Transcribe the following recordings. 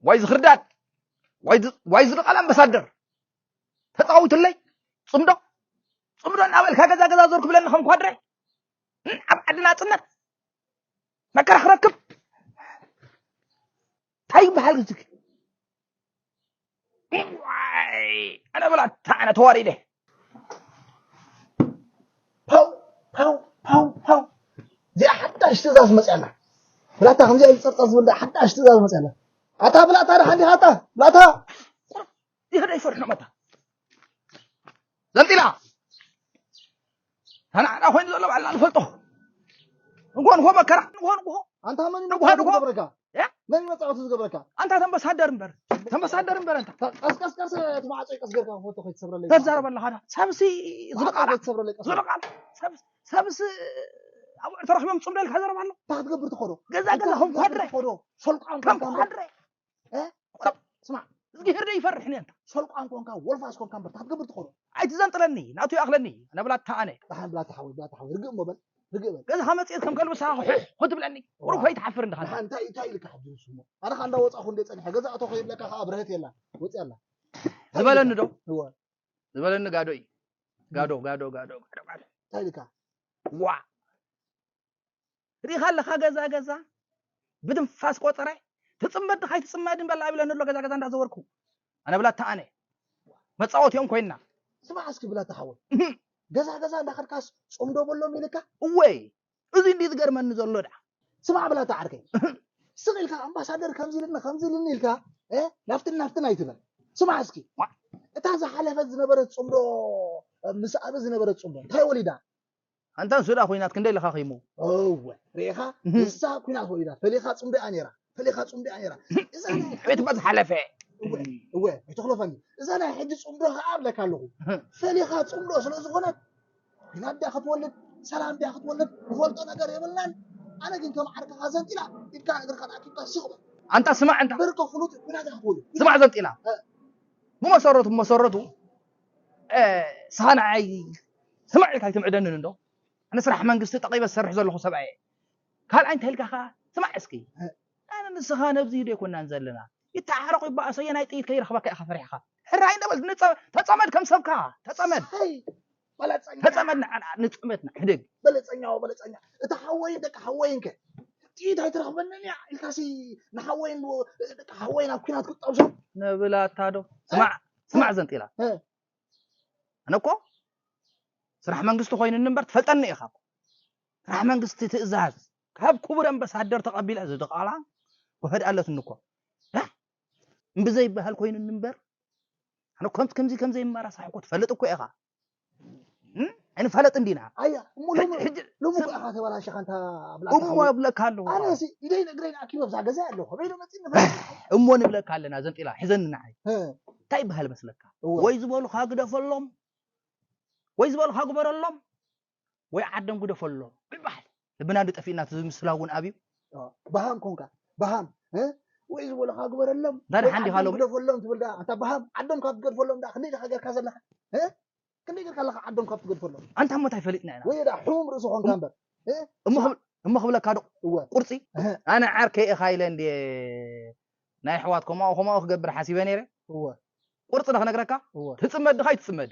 ዋይ ዝኽርዳድ ዋይ ዝድቓል ኣምባሳደር ተፃዊቱለይ ፅምዶ ፅምዶ እናበልካ ገዛ ገዛ ዞር ክብለኒ ከም ኳድረ ኣብ ዓዲ ናፅነት መከራ ክረክብ እንታይ ይበሃል እዚ ዋይ ኣነ ብላታ ኣነ ተዋሪደ ፓው ፓው ፓው ፓው እዚኣ ሓዳሽ ትእዛዝ መፅያላ ብላታ ከምዚኣ ዝፀርፀር ዝብል ሓዳሽ ትእዛዝ መፅያላ ኣታ ብላታ ደሓን ዲኻ ኣታ ብላታ ይኸደ ይፈርሑ መታ ዘንጢላ ተናዕና ኮይኑ ዘሎ ባዕልና ንፈልጦ ንጎ ንጎ መከራ ንጎ ንጎ ኣንታ መን ንጎ ንጎ ዝገብረካ መን መጻወቲ ዝገብረካ ኣንታ ተምበሳደር እምበር ተምበሳደር እምበር ኣንታ ቀስቀስ ቀስ እቲ ማዕጾ ቀስ ጌርካ ፎቶ ከይትሰብረለይ ተዛረብ ኣለኻ ዳ ሰብሲ ዝልቃል ከይትሰብረለይ ቀስ ዝልቃል ሰብስ ሰብስ ኣብዑር ተረኪቦም ጽምዶ ኢልካ ዘረባ ኣሎ እንታይ ክትገብር ትኸዶ ገዛ ገዛኹም ኮድረ ከም ኮድረ ስማዕ እዝጊሄር ዶ ይፈርሕ ንንታ ሰልቋን ኮንካ ወልፋስ ኮንካ እምበር ክትገብር ትኸእሎ ኣይትዘንጥለኒ ናቱ ይኣኽለኒ ነብላታ ኣነ ዳሓን ብላታ ሓወይ ብላታ ሓወይ ርግእ እሞ በል ርግእ በል ገዝኻ መፅት ከም ከልቢ ሰኻ ኩሕ ክትብለኒ ቁሩብ ከይትሓፍር እንድኻ ዳሓን እንታይ እንታይ ኢልካ ሕጂ ንሱ እሞ ኣነ ኸ እንዳወፃኹ እንደ ፀኒሐ ገዛ እቶ ከይብለካ ከዓ ብርሀት የላን ወፅያ ኣላ ዝበለኒ ዶ እወ ዝበለኒ ጋዶ እዩ ጋዶ ጋዶ ጋዶ ጋዶ ጋዶ እንታይ ኢልካ ዋ ርኢኻ ኣለኻ ገዛ ገዛ ብትንፋስ ቆፀረ ትፅመድ ድኻ ኣይትፅመድን በላ ይብለኒ ኣሎ ገዛ ገዛ እንዳዘወርኩ ኣነ ብላ ተኣነ መፃወቲኦም ኮይና ስማዕ እስኪ ብላ ተሓወይ ገዛ ገዛ እንዳኸድካስ ፆምዶ በሎም ኢልካ እወይ እዚ እንዲ ዝገርመኒ ዘሎ ድኣ ስማዕ ብላ ተዓርከይ ስቕ ኢልካ ኣምባሳደር ከምዚ ኢልኒ ከምዚ ኢልኒ ኢልካ ናፍትን ናፍትን ኣይትበል ስማዕ እስኪ እታ ዝሓለፈት ዝነበረት ፅምዶ ምስ ኣበ ዝነበረት ፅምዶ እንታይ ወሊዳ ኣንታ ንሱ ድኣ ኩናት ክንደይ ለኻኺሙ። እወ ርኢኻ ንሳ ኩናት ወሊዳ ፈሊኻ ጽምዶ'ያ ኔራ ፈሊኻ ጽምዶ'ያ ኔራ እዛ ናይ ሕጂ ዕቤት እኳ ዝሓለፈ። እወ እወ ኣይተኽሎፈኒ እዛ ናይ ሕጂ ጽምዶ ኸኣ እብለካ ኣለኹ ፈሊኻ ጽምዶ ስለ ዝኾነት ኩናት ድያ ክትወልድ ሰላም ድያ ክትወልድ ንፈልጦ ነገር የብልናን ኣነ ግን ከም ዓርክኻ ዘንጢላ ኢድካን እግርኻን ኣኪብካ ስቕ በል ኣንታ ስማዕ እንታ ብርኪ ፍሉጥ ኩናት እያ ክትወልድ ስማዕ ዘንጢላ እ ብመሰረቱ ብመሰረቱ ሰኸናዓይ ስማዕ ኢልካ ኣይትምዕደንን እንዶ ኣነ ስራሕ መንግስቲ ጠቒበ ዝሰርሕ ዘለኹ ሰብኣይ እየ ካልኣይ እንታይ ኢልካ ከኣ ስማዕ እስኪ ኣነ ንስኻ ነብዚ ዶ ኣይኮናን ዘለና ይተዓረቑ ይበኣሶ እየ ናይ ጥይት ከይረኽበካ ኢኻ ፈሪሕኻ ሕራይ ነበል ተፀመድ ከም ሰብካ ተፀመድ ተፀመድ ንፅመትና ሕድግ በለፀኛ በለፀኛ እቲ ሓወይን ደቂ ሓወይን ከ ጥይት ኣይትረኽበንን እያ ኢልካሲ ንሓወይን ደቂ ሓወይን ኣብ ኩናት ክጠብሶ ነብላታ ዶ ስማዕ ስማዕ ዘንጢላ ኣነ እኮ ስራሕ መንግስቲ ኮይኑኒ እምበር ትፈልጠኒ ኢኻ ስራሕ መንግስቲ ትእዛዝ ካብ ክቡር ኣምባሳደር ተቐቢለ እዚ ድቓላ ውሕድ ኣለትኒ እኮ እምብዘይበሃል ኮይኑኒ እምበር ኣነ ከምዚ ከምዘይመራሳሕ እኮ ትፈልጥ እኮ ኢኻ እንፈለጥ እንዲና ኣያ እሞ ሎሚ ሕጂ ሎሚ ሰብ- ከኣ ተበላሽኻ እንታ ብላታ እሞ ሓወይ። ኣብለካ ኣለኹ ኣነ ሲ ኢደይ ንእግረይ ንኣኪበ ኣብዛ ገዛ ኣለኹ ከመይ ኢለ መፂእ ንፈልጥ እሞ ንብለካ ኣለና ዘንጢላ ሕዘኒ ንዓይ እ፣ እንታይ ይበሃል መስለካ እወ ወይ ዝበሉኻ ግደፈሎም ወይ ዝበሉኻ ግበረሎም ወይ ዓደም ጉደፈሎ ምባል ልብና ዶ ጠፊእና እቲ ምስላ እውን ኣብዩ በሃም ኮንካ በሃም ወይ ዝበልኻ ግበረሎም ዳድሓን ዲኻ ሎም ግደፈሎም ትብል ደኣ ኣንታ በሃም ዓዶም ካብ ትገድፈሎም ደኣ ክንደይ ዲኻ ጌርካ ዘለኻ ክንደይ ጌርካ ኣለኻ ዓዶም ካብ ትገድፈሎም ኣንታ እሞ እንታይ ፈሊጥና ኢና ወይ ደኣ ሕሙም ርእሲ ኮንካ እምበር እሞ ክብለካ ዶ ቁርፂ ኣነ ዓርከይ ኢኻ ኢለ እንድየ ናይ ኣሕዋት ከምኡ ከምኡ ክገብር ሓሲበ ነይረ ቁርፂ ዶ ክነግረካ ትፅመድ ድኻ ኣይትፅመድ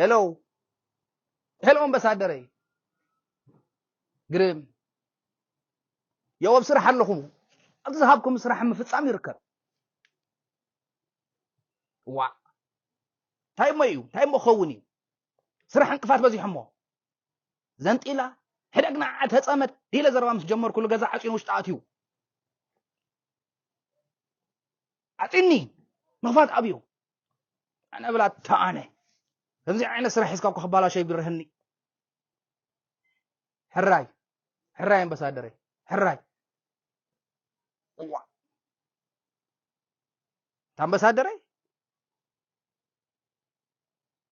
ሄሎ ሄሎ ኣምባሳደረይ ግርም የው ኣብ ስራሕ ኣለኹም ኣብዚ ዝሃብኩም ስራሕ ምፍፃም ይርከብ ዋ እንታይ እሞ እዩ እንታይ እሞ ክኸውን እዩ ስራሕ እንቅፋት በዚሖሞ ዘንጢላ ሕደግና ተፀመድ ኢለ ዘረባ ምስ ጀመርኩሉ ገዛ ዓፂኑ ውሽጢ ኣትዩ ዓፂኒ ምኽፋት ኣብዩ ኣነ ብላታ ኣነ ከምዚ ዓይነት ስራሕ ሒዝካ እኳ ክባላሾ ይግርህኒ ሕራይ ሕራይ ኣምባሳደረይ ሕራይ እዋ ኣምባሳደረይ